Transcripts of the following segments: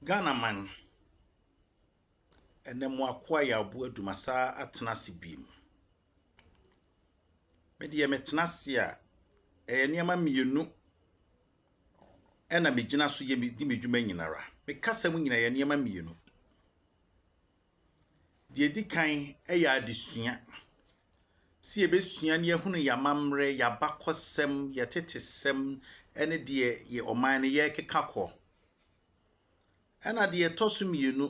Ghana man, ɛnɛ mo akoa Yaobo Adu masa atena ase biom. Me deɛ me tena ase a, ɛyɛ nneɛma mmienu ɛna me gyina so yɛ me di me dwuma nyinara. Me kasa mu nyina ɛyɛ nneɛma mmienu. Deɛ ɛdi kan yɛ adesua. Sɛ yɛbɛsua na yɛahunu yɛn amammerɛ, yɛn abakɔsɛm, yɛn atetesɛm ne deɛ yɛn ɔman no yɛrekeka kɔ. Ɛna deɛ ɛtɔ so mmienu,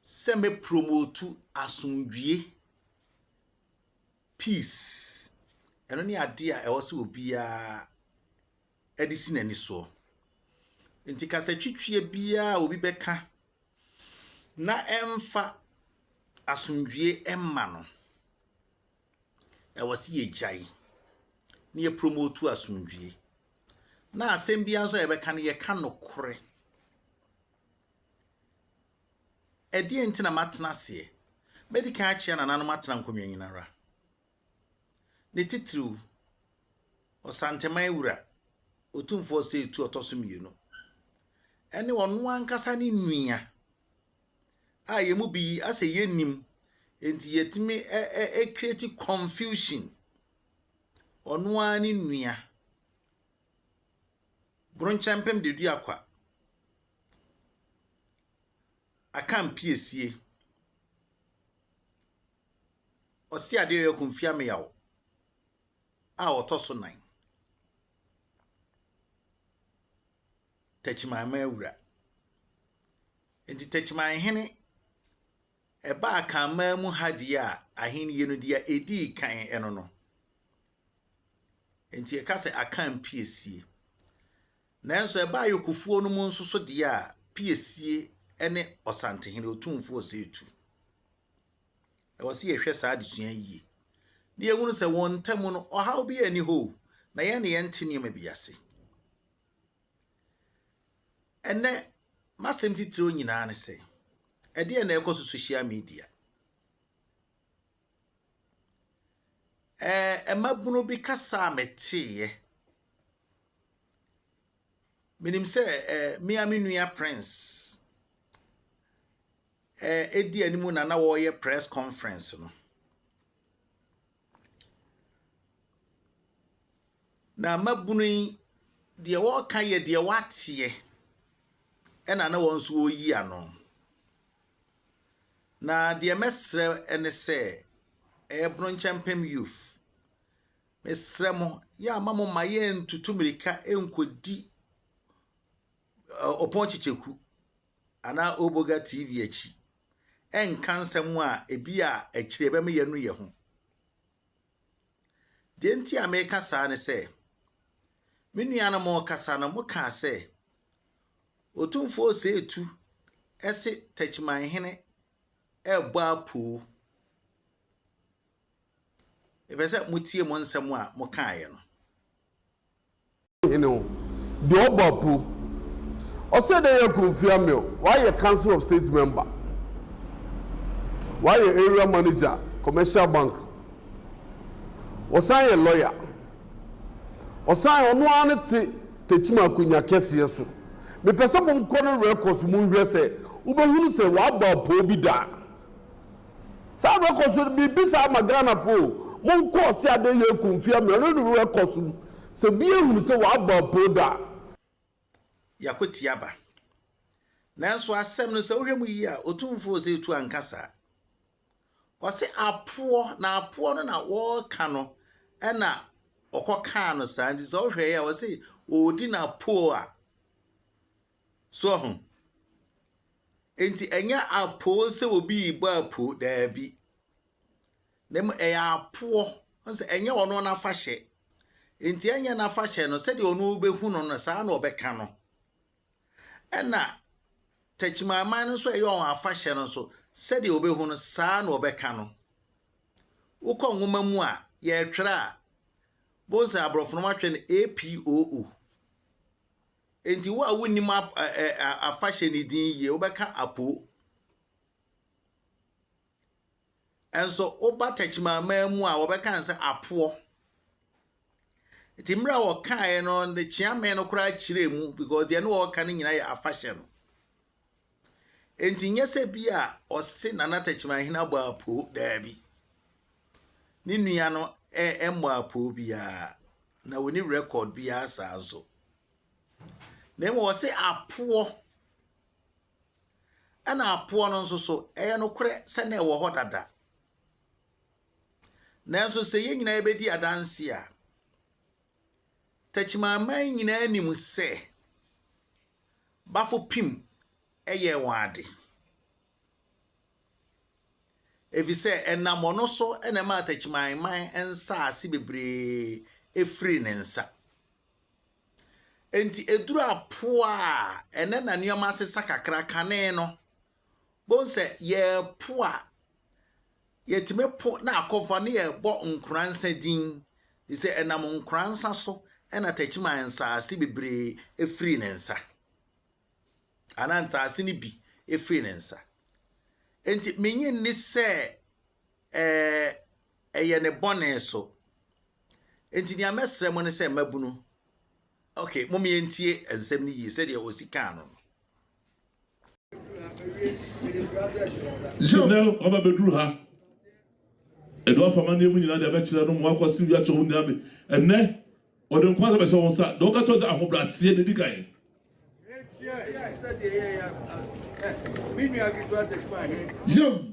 sɛ mɛpromotu asomdwie, peace. Ɛno ne adeɛ a ɛwɔ sɛ obiara de si n'ani soɔ. Nti kasatwitwie biara a obi bɛka na ɛmfa asomdwoeɛ mma no, ɛwɔ sɛ yɛgyae na yɛpromotu asomdwoeɛ. Na asɛm biara nso a yɛbɛka no, yɛka nokorɛ. Ɛdeɛn nti na matena aseɛ? Mɛdi kan akyea nananom atena nkonnwa nyina ara. Ne titiriw, Ɔsantɛman Wura, Otumfoɔ Osei Tuo Ɔtɔ So Mmienu, ne ɔno ankasa ne nua a yɛn mu bi asɛ yɛnnim, nti yɛtumi ɛkreti confusion. Ɔno ara ne nua, Bronkyɛmpem Deduakwa, Akan Piesie, Ɔseadeɛ York Mfiameyaw a ɔtɔ so nan. Takyimaemaa awura. Enti Takyimaehene ɛbaa Akanman mu ha deɛ a ahennie no deɛ a ɛdii kan ɛno no. Enti yɛka sɛ Akan piesie. Nanso ɛbaa Yorkfoɔ no mu nso so deɛ a piesie ne Ɔsantehene, Otumfoɔ Ɔsɛetu. Ɛwɔ sɛ yɛhwɛ saa adesua yi yie na yɛhunu sɛ wɔn ntam no, ɔhaw biara nni hɔ o, na yɛn de yɛnte nneɛma bi ase. Ɛnɛ, m'asɛm titiriw nyinaa ne sɛ, ɛdeɛ na ɛkɔ so social media. Ɛɛ, mmabunu bi kasa a meteeɛ. Menim sɛ ɛɛ, me a me nua Prince a edi anim na na wɔreyɛ press conference no. Na mmabunu yi, deɛ wɔreka yɛ deɛ wɔateɛ, ɛna na wɔn nso wɔreyi ano. Na deɛ mɛsrɛ ne sɛ, ɛyɛ Bronkyɛmpem Youth, mesrɛ mo, yɛ a ma mo mma yɛntutu mmirika nkɔdi ɔpon kyekyɛku anaa Oboga TV akyi nka nsɛm a ebi a akyiri ɛbɛma yɛnu yɛn ho. Deɛ nti a meka saa ne sɛ, me nuanom rekasa no mokaa sɛ, Otumfoɔ Oseetu se Takyimanhene rebɔ apoo. Mepɛ sɛ motie mo nsɛm a mokaeɛ no. Hene o, deɛ ɔbɔ apu. Ɔsɛ dɛ yɛ Kofi Ameo, wayɛ Council of State member, wayɛ Area Manager, Commercial Bank, ɔsan yɛ lawyer, ɔsan ɔno ara ne te Techiman Akonya kɛseɛ so. Mepɛ sɛ monkɔ ne records mu nhwɛ sɛ wobɛhunu sɛ wabɔ apoo bi da. Saa rekɔ so no mibisa ma Ghana fo o, mo nkɔ ɔse adɛn yɛ ku mfeɛ mmerɛ no no rekɔ so no sɛ bi ahunu sɛ w'abɔ apoo da a. Yɛakɔti aba. Nanso asɛm no sɛ wohwɛ mu yie a Otumfoɔ Osetu anka saa. Ɔse apoɔ na apoɔ no na wɔreka no na ɔkɔkaa no saa nti sɛ wohwɛeɛ a ɔse ɔredi n'apoo a So ahu? Enti ɛnyɛ apoo sɛ obi rebɔ apoo, daabi. Na mmom ɛyɛ apoɔ, sɛ ɛnyɛ ɔno n'afahyɛ. Enti ɛnyɛ n'afahyɛ no, sɛdeɛ ɔno ɔbɛhu no no, saa na ɔbɛka no. Ɛna takyimaman no nso ɛyɛ wɔn afahyɛ no nso, sɛdeɛ ɔbɛhu no, saa na ɔbɛka no. Wokɔ nwoma mu a, yɛretwerɛ a, bohu sɛ aborɔfo no wɔatwerɛ no APOO. Enti wo a wonnim afahyɛ no din yie, wobɛka Apo. Nso woba Takyimaman mu a, wɔbɛka no sɛ Apoɔ. Nti mmerɛ a wɔkaeɛ no, ne kyeame no koraa kyerɛɛ mu because deɛ ne wɔka no nyinaa yɛ afahyɛ no. Enti nyɛ sɛ bi a ɔse Nana Takyimahin abɔ apoo, daabi. Ne nua no mmɔ apoo biara, na wɔni rekɔd biara saa nso. Na mmom ɔse apoɔ, ɛna apoɔ no nso so, ɛyɛ nokorɛ sɛ na ɛwɔ hɔ dada. Nanso sɛ yɛn nyinaa bɛdi adanse a, Techimanman nyinaa nim sɛ Bafopim yɛɛ wɔn ade, efisɛ ɛnam ɔno so na ɛmaa Techimanman nsaase bebree firii ne nsa. Enti eduru apoa a ɛnnɛ na nneɛma asesa kakra kane no, Bohu sɛ yɛpo a, yɛtumi po na akɔfa ne yɛbɔ nkoransa din, firi sɛ ɛnam nkoransa so na Takyiman nsaase bebree firii ne nsa, anaa nsaase no bi firii ne nsa. Enti menye nni sɛ ɛɛ ɛyɛ ne bɔne so. Enti nea mɛsrɛ mo ne sɛ mmabunu, okay, mom yɛntie nsɛm no yie sɛdeɛ osi kaa no no. Nnɛ waba bɛduru ha. Ɛde wafa amanneɛ mu nyinaa de abɛkyerɛ no ma wakɔse wia kyɛ wo nua me. Ɛnnɛ ɔde nko asɛ bɛhyɛ wo nsa. Deɛ ɔka kyerɛ sɛ ahobrɛaseɛ na ɛdi kan. Yam.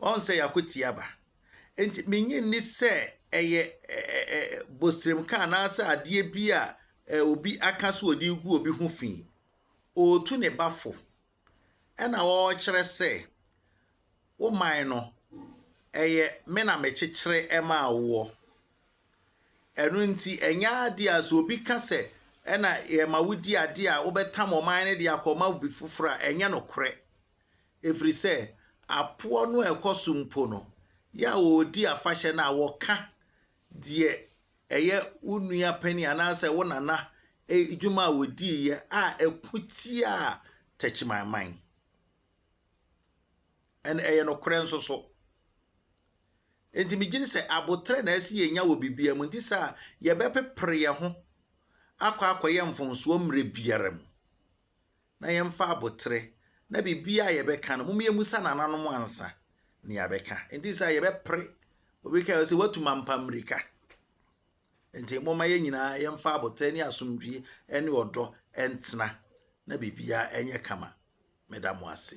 Wɔahu sɛ yɛakwati aba. Enti minnye nni sɛ ɛyɛ bosremka anaasɛ adeɛ bi a obi aka sɛ ɔde regu obi ho fi. Ɔretu ne ba fo, ɛna ɔrekyerɛ sɛ, wo man no, ɛyɛ me na mekyekyere maa woɔ. Ɛno nti, ɛnyɛ adeɛ a sɛ obi ka sɛ ɛna yɛma wodi adeɛ a wobɛtam ɔman no de akɔma obi foforɔ a, ɛnyɛ nokorɛ. ɛfiri sɛ apoɔ no a ɛkɔ so mpo no, yɛ a wɔredi afahyɛ no a, wɔka deɛ ɛyɛ wo nua panin anaasɛ wo nana adwuma a wɔdiiɛ a ɛko tiaa takyimanman. Ɛn ɛyɛ nokorɛ nso so. Nti megyini sɛ aboterɛ na ɛsɛ yɛnya wɔ biribiara mu nti sɛ a yɛbɛpepere yɛn ho akɔ akɔyɛ mfonsoɔ mmerɛ biara mu. na yɛmfa aboterɛ, na biribiara a yɛbɛka no, mom yɛmmisa nananom ansa na yɛabɛka. Enti sɛ yɛbɛpere, obi kae sɛ, watu mampa mmirika. Enti momma yɛn nyinaa yɛmfa aboterɛ ne asomdwie ne ɔdɔ ntena na biribiara ɛnyɛ kama. Meda mo ase.